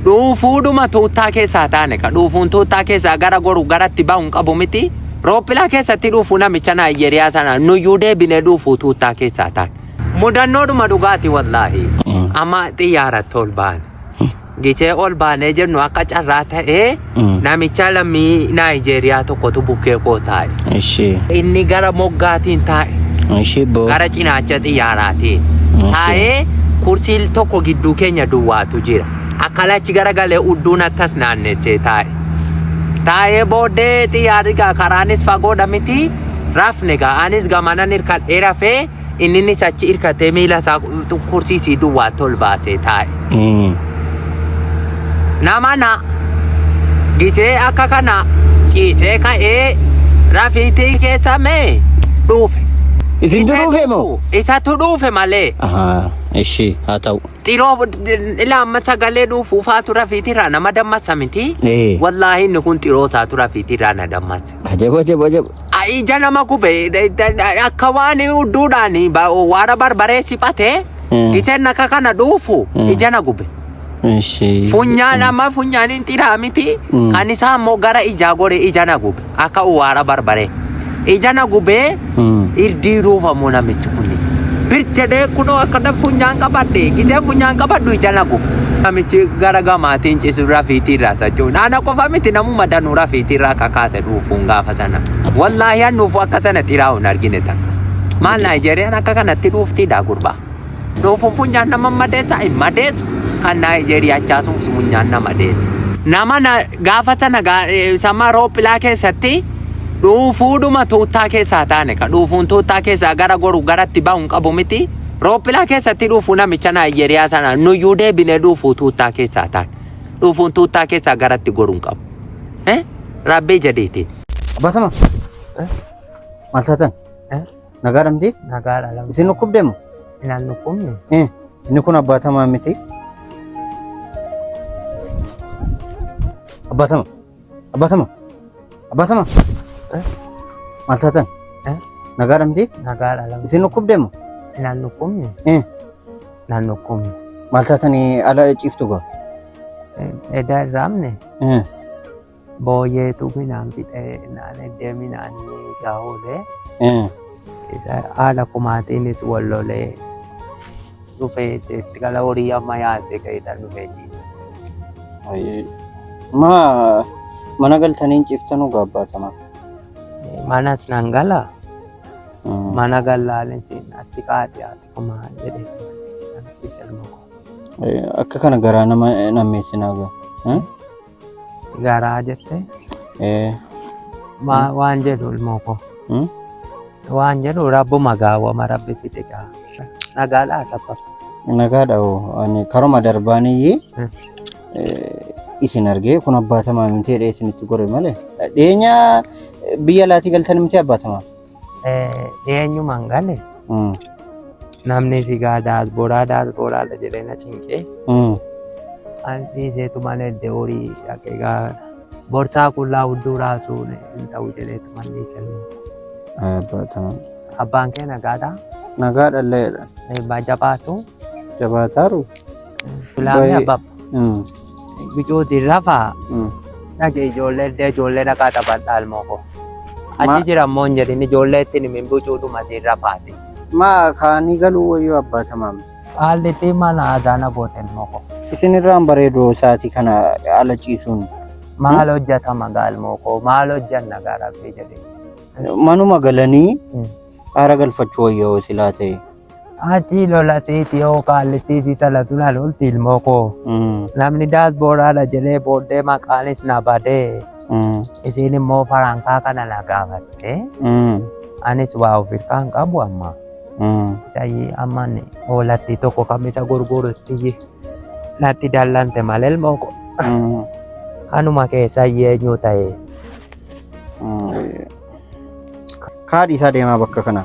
dhuufuudhuma tuuttaa keessaa taane ka dhuufuun tuuttaa keessaa gara goru garatti bahu hin qabu miti roophilaa keessatti dhuufuu namicha naayijeriyaa sana nuyyuu deebinee dhuufuu tuuttaa keessaa taane mudannoodhuma dhugaati wallaahi amma xiyyaaratti ol baane gitee ol baanee jennu akka carraa ta'ee Namichaa lammii Naayijeeriyaa tokkotu bukkee koo taa'e. Ishee. Inni gara moggaatiin taa'e. Ishee boo. Gara cinaacha xiyyaaraatiin. Taa'ee kursii tokko gidduu keenya duwwaatu jira. Akka lachi gara galee udduun akkas naannessee taa'e. Taa'ee booddee xiyyaarri gaa karaanis fagoodha miti. Rafne gaa anis gamanan hirkadhee rafee. Inninis achi irkatee miila isaa kursiisii duwwaa tol baasee taa'e. Mm. Nama na gisee akka kana ciisee ka'ee rafiitii keessa mee dhuufe. Isin Isatu duruufe moo? dhuu- Isatu dhuufe malee. Ahaa, ishii haa ta'u. Xiroo ilaa amma sagalee dhuufuufaa tura fiitiirraa nama dammasa miti. Ee. Wallaahi inni kun xiroo isaa tura fiitiirraa na dammasa. Ajab ajab ajab. ija nama gube akka waan udduudhaan waara barbaree siphate giteen akka kana dhuufu ija na gube. Ishee. Funyaan amma funyaaniin xiraa miti kan isaa immoo gara ijaa gore ija na gube akka waara barbaree ija na gubee Irdii ruufa moo namichi kun. Bir jedhee kunoo akka daf funyaan qabadhe gisee funyaan qabadhu ija na gubu. Namichi gara gamaatiin cisu rafiitii irraa sachuu. Ana qofa miti namuma danuu rafiitii irraa kakaase dhuufuun gaafa sana. Wallaahi an dhuufu akka sana xiraa hin argine takka. Maal Naayijeeriyaan akka kanatti dhuuftiidha gurbaa. Doo funfunyaan nama madeessa hin madeessu kan Naayijeeriyaa chaasuun funfunyaan na madeesse. Nama na gaafa sana gaa- eh, sama roophilaa keessatti dhuufuudhuma tuuttaa keessaa taane ka dhuufuun tuuttaa keessaa gara goru garatti bahu hin qabu miti. Roophilaa keessatti dhuufuu namicha Naayijeeriyaa sana nuyyuu deebinee dhuufuu tuuttaa keessaa taane. Dhuufuun tuuttaa keessaa garatti goru hin qabu. Eh? Rabbii jedhiitiin. Abbaa Tamaa. Maal taatan? Nagaa dhamti? Nagaa dha lamti. Isin dhukkubde mo? Inaan dhukkubne. Eh, inni kun abbaatamaa miti. Abbaatama. Abbaatama. Abbaatama. Eh? Maal taatan? Eh? Nagaa dhamti? Nagaa dha lamti. Isin dhukkubde mo? Inaan dhukkubne. Eh? Inaan dhukkubne. Maal taatanii ala ciiftu gaa? Edaa irraa amne. Eh. Booyeetu minaan fixee naan deemi naan gaa'ulee. Haala kumaatiinis wal lolee dhufee itti gala horii amma yaadde keessa dhufee ciise. Ma mana galtanii ciiftanuu gaabbaatama. Manas nan gala mana gallaanis atti qaadhi ati kumaa jedhee ciise ilma koo. Akka kana garaa nama nammeessinaa gaa. Garaa jette. Ee. Ma- Waan jedhu ilmoo koo. Hmm? Waan jedhu rabbuma gaawwama rabbi fide gaa. Nagaadhaa tapha. Nagaadha hoo ani karuma darbaaniyyi Hmm. isin argee kun abbaatamaa miti jedhee isinitti gore malee. Dhiyeenya biyya laatii galtan miti abbaatamaa. Eenyumaan gale namni si gaa daasbooraa daasbooraadha jedhee na cinqee an dhiiseetumaan edde horii dhaqee gaa borsaa qullaa hudduu raasuun hin ta'u jedheetumaan ni kennu. Baataman. Abbaan kee nagaadhaa? Nagaa dhalleedha. Eebbaa jabaatu. Jabaataaru. Filaamee Baay'ee- abbaaf Mm, bicuutiin rafaa mm. dhage ijoollee iddoo ijoollee dhaqaa taphadhaa ilmoo koo. Ma- Achi jira immoo hin jedhin ijoollee ittiin himin bicuudhuma siin rafaati. Maa kaanii galuu wayyoo abbaa tamaam. Haalli ittiin mana aadaa na goote ilmoo koo. Isin irraan bareedoo isaatii kana ala ciisuun Maal hojjetama gaa ilmoo koo maal hojjenna gaa rabbii jedhee. manuma galanii Mm. aara galfachuu wayyoo silaa ta'e. Achi lola siiti yoo kaallittii si salatu na lolti ilmoo koo. Namni daasbooraadha jedhee booddee maqaanis na badee. Isiin immoo farankaa kana na gaafatte. Anis waa of hirkaa hin qabu amma. Sayyii amma inni hoolattii tokko kamisa gurgurutti natti dallante malee ilmoo koo. Kanuma keessa eenyu ta'e. Kaadhi isaa deemaa bakka kana.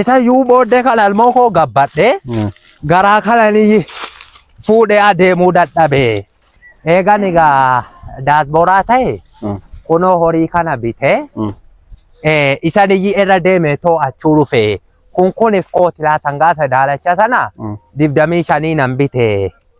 Isa yuu booddee kana ilmoo koo gabbadhee garaa kananii fuudhee adeemuu dadhabee. Eegan egaa daasbooraa ta'e kunoo horii kana bitee eh, isa niyyi irra deeme too achuu dhufe kun kunif kootilaa sangaa sadaalacha sana dibdamii shanii nan bite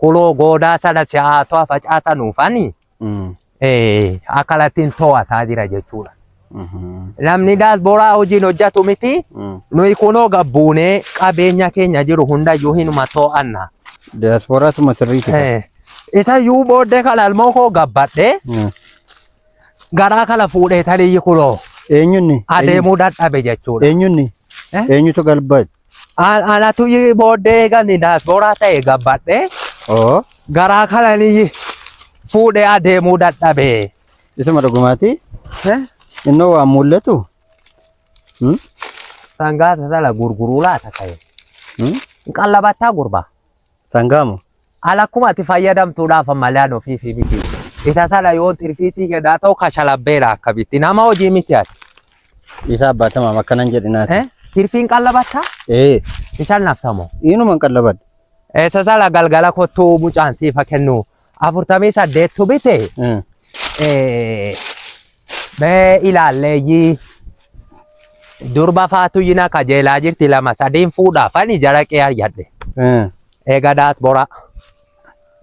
Kuloo goodaa sana si'aatoo facaasa nuufani akalatiin to'ataa jira jechuudha. Namni daasboraa hojiin hojjetu miti. Nuyi kunoo gabbuunee qabeenya keenya jiru hundayyuu hinuma to'anna. Diyaasporaa tuma sirriiti. Isa yuu booddee kana ilmoo koo gabbadhee garaa kana fuudhee taliyyi kunoo Eenyunni? adeemuu dadhabe jechuudha. Eenyunni? Eenyutu galbate? An- Anatu yi booddee gani daasbooraa ta'e gabbadhe Oo. garaa kanani yi fuudhee adeemuu dadhabe. Isuma dhugumaati. Eh? Innoo waan mul'atu. Hmm? Sangaa sana gurguruu laata ta'e. Hmm? Qallabattaa gurbaa. Sangaamu. Haala akkuma ati fayyadamtuudhaaf malaan ofii fi miti. Isa sana yoo tirfiitii kenaa ta'u kashalabbeera akkamitti nama hojii miti ati. Isa abbaatama akkanan jedhinaati. Eh? Tirfiin qallabatta? Ee. Isaan naftamoo? Inuman qallabadha. Isa sana galgala kottuu mucaan siifa kennu afurtamii saddeettu bite. Mm. Eh, Mee ilaalleeyyii durba faatu yina kajeelaa jirti lama sadiin fuudhaaf ani jara qee ayyadhe. Mm. Eega daat boraa.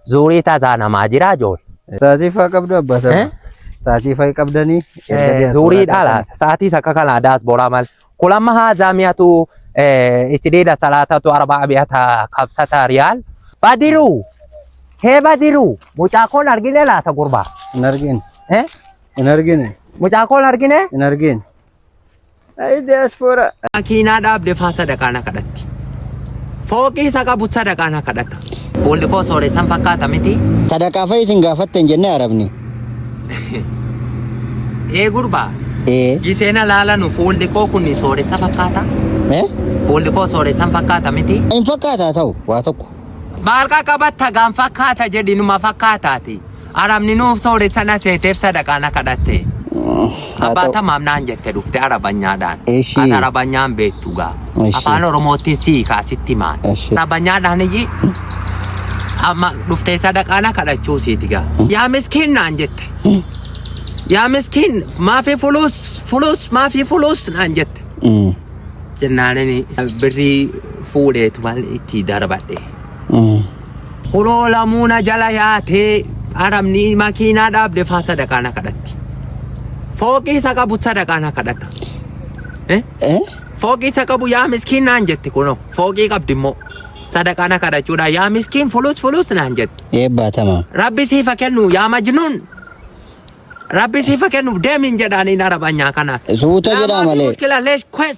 Zuurii taasaa namaa jiraa jool. Taasiifaa qabdu abbaa Eh? sana. Taasiifaa hin qabdanii. Zuurii dhaala. Sa'aatiis akka kanaa daat boraa mal. Kulamma haazaa mi'atu isideeda salaatatu arbaa mi'ata kabsata riyaal. Badiruu. Hee badiruu. Mucaa koon argine laata gurbaa. Hin argine. Eh? Hin argine. Mucaa koon argine. Hin argine. Ayi diaspora. Makiinaa dhaabde faa sadaqaa na kadhatti. Fooqii isa qabu sadaqaa na kadhata. Fuulli koo sooressan fakkaata miti. Sadaqaa fa'i isin gaafatte hin jenne arabni. Ee gurbaa. Ee. Gisee na laalanu fuulli koo kun sooressa fakkaata. Ee? Fuulli koo sooressan fakkaata miti. Hin fakkaataa ta'u waa tokko. Maal qaqqabatta gaan fakkaata jedhinuma fakkaataati. Arabni nuuf soore sana seeteef sadaqaa na kadhatte. Haa Abbaa ta'u. tamaam naan jette dhufte arabanyaadhaan. Eshi. Ati arabanyaan beektu gaa. Eshi. Afaan Oromoottiin sii kaasitti maal. Eshi. Arabanyaadhaan iyyii amma dhuftee sadaqaa na kadhachuu siiti gaa. Yaa miskiin naan jette. Yaa miskiin maafi fuluus fuluus maafi fuluus naan jette. Mm. Jennaan birrii fuudheetu maal itti darbadhe. Mm. Kunoo lamuu na jala yaatee arabni makiinaa dhaabde faa sadaqaa na kadhatti. Fooqii isa qabu sadaqaa na kadhata. Eh? Eh? Fooqii isa qabu yaa miskiin naan jetti kunoo fooqii qabdi immoo sadaqaa na kadhachuudha yaa miskiin fulus fulus naan jetti. Eebbaa tamaa. Rabbi siifa kennu yaa majnuun. Rabbi siifa kennu deemiin jedhaaniin arabanyaa kanaan. Suuta jedhaa Laamaa fi malee. mushkila leesh kwes.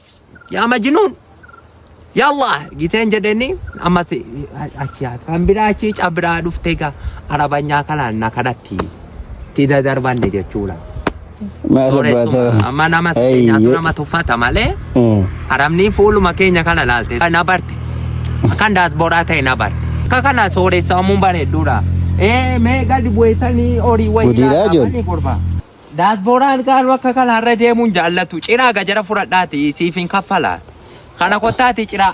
yaa majnuun yaa allah giteen jedheni ammas achi haa kan biraa achi cabbiraa dhuftee gaa arabanyaa kanaan na kadhatti itti dadarbanne jechuudha. Maal abbaa Sooressumaa ta'u? amma nama keenyaatu Eeyyee. nama tuffata malee Mm. arabni fuuluma keenya kana laalte na barte akkan daasboraa ta'e na barte akka kana sooressaa ammuun bareedduudha. Ee mee gadi bu'eessanii horii wayii Gudiraa laataa jiru. banii gurbaa. Daasbooraan kaan wakka kana irra deemuu hin jaallatu. Ciraa gajara fudhadhaatii siif hin kaffalaa. Kana kottaatii ciraa.